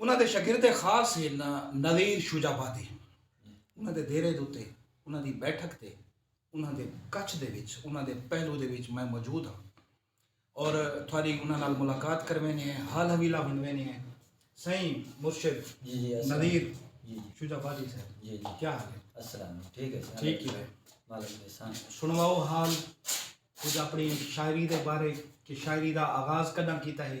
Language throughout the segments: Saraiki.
انہاں دے شاگرد خاص سیدنا نذیر شجابادی ہن۔ انہاں دے دیرے دے اتے انہاں دی بیٹھک تے انہاں دے کچھ دے وچ انہاں دے پہلو دے وچ میں موجود ہاں اور تھاڈی انہاں نال ملاقات کرویندے ہیں حال حویلہ ونڈویندے ہیں سائیں مرشد نذیر شجابادی صاحب کیا حال ہے السلام ٹھیک ہے ٹھیک ہی ہے سنواؤ حال کچھ اپنی شاعری دے بارے کہ شاعری دا آغاز کڈاں کیتا ہے۔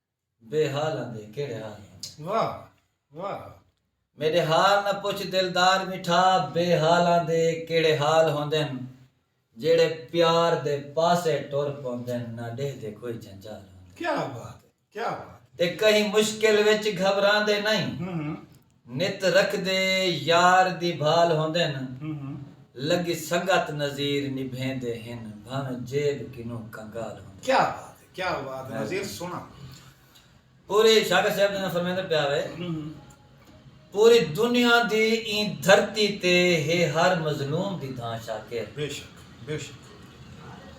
بے حال آں دے کیڑھے حال آں دے۔ واہ واہ۔ میڈے حال نہ پچھ دلدار میٹھا بے حال آں دے کیڑھے حال ہوندن جیڑھے پیار دے پاسے ٹر پوندن نہ ڈیہدے کوئی جنجال ہوندن۔ کیا بات ہے کیا بات ہے۔ تے کہیں مشکل وچ گھبراندے نئیں۔ نت رکھدے یار دی بھال ہوندن لڳی سنگت نذیر نبھیندے ہن بھانویں جیب کنوں کنگال ہوندن۔ کیا بات ہے کیا بات ہے نذیر سونا۔ پوری شاکر صاحب جیویں فرمیندا پیا وے پوری دنیا دی ایں دھرتی تے ہے ہر مظلوم دی دھاں شاکر۔ بے شک۔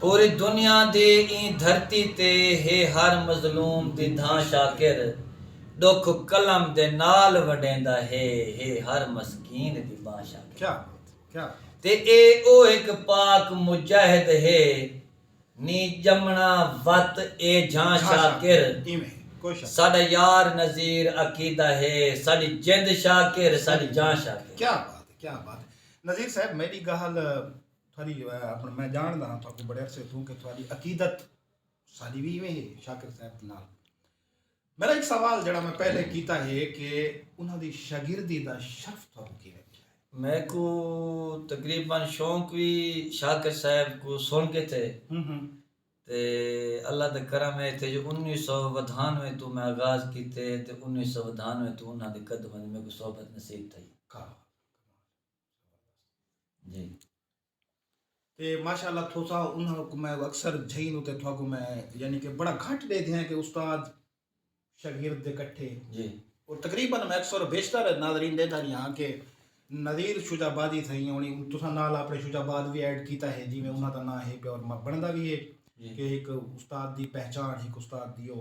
پوری دنیا دی ایں دھرتی تے ہے ہر مظلوم دی دھاں شاکر ڈکھ قلم دے نال ونڈیندا ہے ہے ہر مسکین دی بانہہ شاکر تے اے او ہک پاک مجاہد ہے نی جمنا وت اے جھاں شاکر ساڈا یار نذیر عقیدہ ہے ساڈی جند شاکر ساڈی جاں شاکر۔ نذیر صاحب میڈی گال تھوڑی اپن میں جان دا ہاں تھوڑے کو بڑے عرصے تھوں کہ تھوڑی عقیدت ساری بھی میں ہے شاکر صاحب دے نال میرا ایک سوال جڑا میں پہلے کیتا ہے کہ انہاں دی شاگردی دا شرف تھوڑے کو کیویں ملیا ہے میں کو تقریبا شوق وی شاکر صاحب کو سن کے تھے تے اللہ دا کرم ہے تے جو انیس سو ودھانوے توں میں آغاز کیتے تے انیس سو ودھانوے توں انہاں دے قدماں دی میں کو صحبت نصیب تھئی کیا بات ہے جی تے ماشاءاللہ تھوسا انہاں کو میں اکثر جھئی نو تے تھوا کو میں یعنی کہ بڑا گھٹ دے دیا کہ استاد شاگرد دے کٹھے جی اور تقریبا میں اکثر و بیشتر ناظرین دے داری ہاں کہ نظیر شجا بادی تھا ہی ہونی تسا نال اپنے شجا باد بھی ایڈ کیتا ہے جی میں انہاں دا نہ ہے کہ اور بندہ بھی ہے جی۔ کہ ایک استاد دی پہچان ایک استاد دیو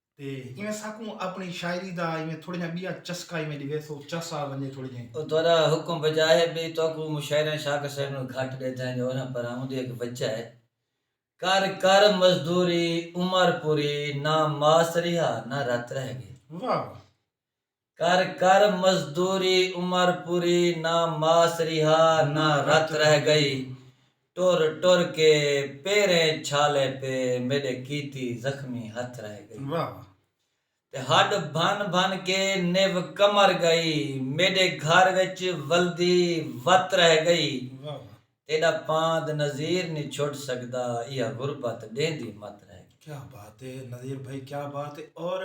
تے ایویں ساکوں اپنی شاعری دا ایویں تھوڑے جاں بیا چسکا ایویں ڈیوے سو چس آ ونجے تھوڑے جاں۔ او تہاڈا حکم بجا ہے بی تہاکوں مشاعراں شاکر صاحب نال گھٹ ڈیدھا ہے جوہراں پراں اوندی ہک وجہ ہے۔ کر کر مزدوری عمر پوری نہ ماس ریہا نہ رت رہ گئی۔ واہ واہ۔ کر کر مزدوری عمر پوری نہ ماس ریہا نہ رت رہ گئی ٹر ٹر کے پیریں چھالے پے میڈے کیتی زخمی ہتھ رہ گئی تے ہڈ بھن بھن کے نیو کمر گئی میڈے گھر وچ ولدی وت رہ گئی تیݙا پاند نذیر نی چھڈ سڳدا ایہا غربت ݙیہندی مت رہ ڳئی۔ کیا بات ہے نذیر بھائی کیا بات ہے اور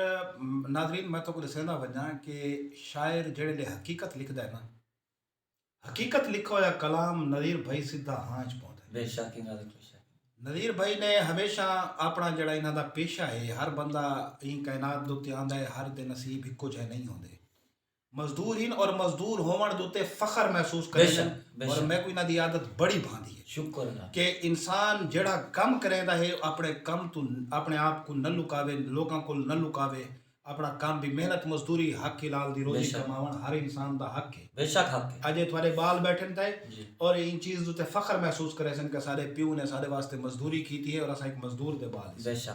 ناظرین میں تہاکوں ݙسیندا ونڄاں کہ شاعر جیڑھے لے حقیقت لکھدا ہے نا حقیقت لکھا ہویا کلام نذیر بھائی سدھا ہاں اچ پوندا ہے۔ بے شک انہاں دے پیشہ کیتے۔ نذیر بھائی نے ہمیشہ آپݨا جیڑھا انہاں دا پیشہ ہے ہر بندہ ایں کائنات دے اتے آندا ہے ہر دے نصیب ہکو جہے نہیں ہوندے مزدور ہن اور مزدور ہوونڑ دے اتے فخر محسوس کریندن اور میکوں انہاں دی عادت بڑی بھاندی ہے کہ انسان جیڑھا کم کریندا ہے اپنڑے کم توں اپنڑے آپ کوں نہ لکاوے لوکاں کول نہ لکاوے اپنڑا کم وی محنت مزدوری حق حلال دی روزی کماونڑ ہر انسان دا حق ہے اجے تہاڈے بال بیٹھن تھئے اور ایں چیز دے اتے فخر محسوس کریسن کہ اساڈے پیو نے اساڈے واسطے مزدوری کیتی ہے اور اساں ہک مزدور دے بال ہیساں۔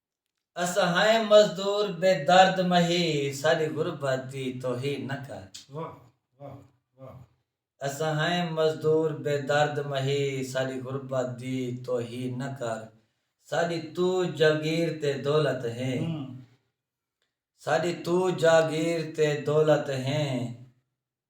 اساں ہائیں مزدور بے درد مہی ساڈی غربت دی توہین نہ کر اساں ہائیں مزدور بے درد مہی ساڈی غربت دی توہین نہ کر ساڈی تو جاگیر تے دولت ہیں ساڈی تو جاگیر تے دولت ہیں۔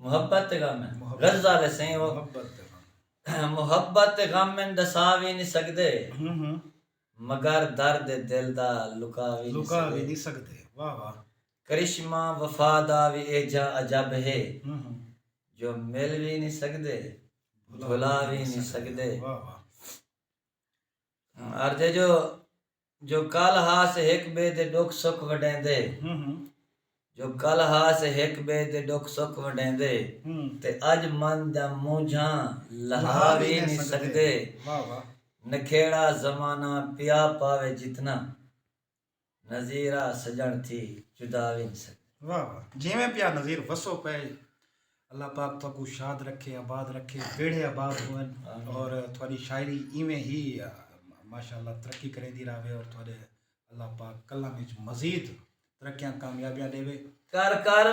محبت تے غم ہن غزہ والے سئیں او محبت تے غم ہن ڈسا وی نی سگدے مگر درد دل دا لکا وی نی سگدے کرشمہ وفا دا وی ایجھا عجب ہے جو مل وی نی سگدے بھلا وی نی سگدے عرض ہے جو جو کل ہاس ہک بئے دے ڈکھ سکھ ونڈیندے جو کل ہاس ہک بئے دے ڈکھ سکھ ونڈیندے تے اج من دیاں مونجھاں لہا وی نی سگدے نکھیڑا زمانہ پیا پاوے جتنا نذیرا سجݨ تھی جدا وی نی سگدے۔ واہ واہ جیویں پیا نذیر وسو پئے اللہ پاک تہاکوں شاد رکھے آباد رکھے بیڑھے آباد ہوون اور تہاڈی شاعری ایویں ہی ماشاءاللہ ترقی کریندی راہوے اور تہاڈے اللہ پاک قلم وچ مزید ترقیاں کامیابیاں ڈیوے۔ کر کر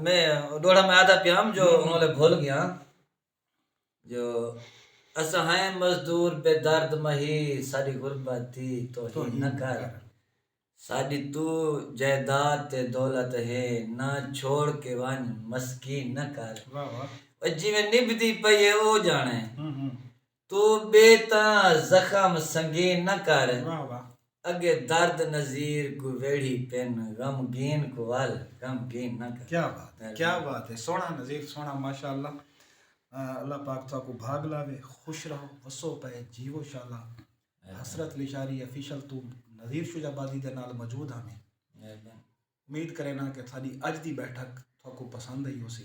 میں ڈوہڑا میں آہدا پیام جو انہاں لے بھل گیاں۔ جو اساں ہئیں مزدور بے درد مہی ساڈی غربت دی توہین نہ کر ساڈی تو جائیداد تے دولت ہے نہ چھوڑ کے ونج مسکین نہ کر او جیویں نبھدی پئی ہے او جانے تو بے تاں زخم سنگین نہ کر۔ اگے درد نذیر کوں ویڑھی پن غمگین کوں ول غمگین نہ کر کیا بات ہے کیا بات ہے سوہنا نذیر سوہنا ماشاءاللہ اللہ پاک تہاکوں بھاگ لاوے خوش رہو وسو پئے جیو شالا حسرت لشاری افیشل توں نذیر شجاع آبادی دے نال موجود ہاں میں امید کرینا کہ تھاڈی اج دی بیٹھک تہاکوں پسند آئی ہوسی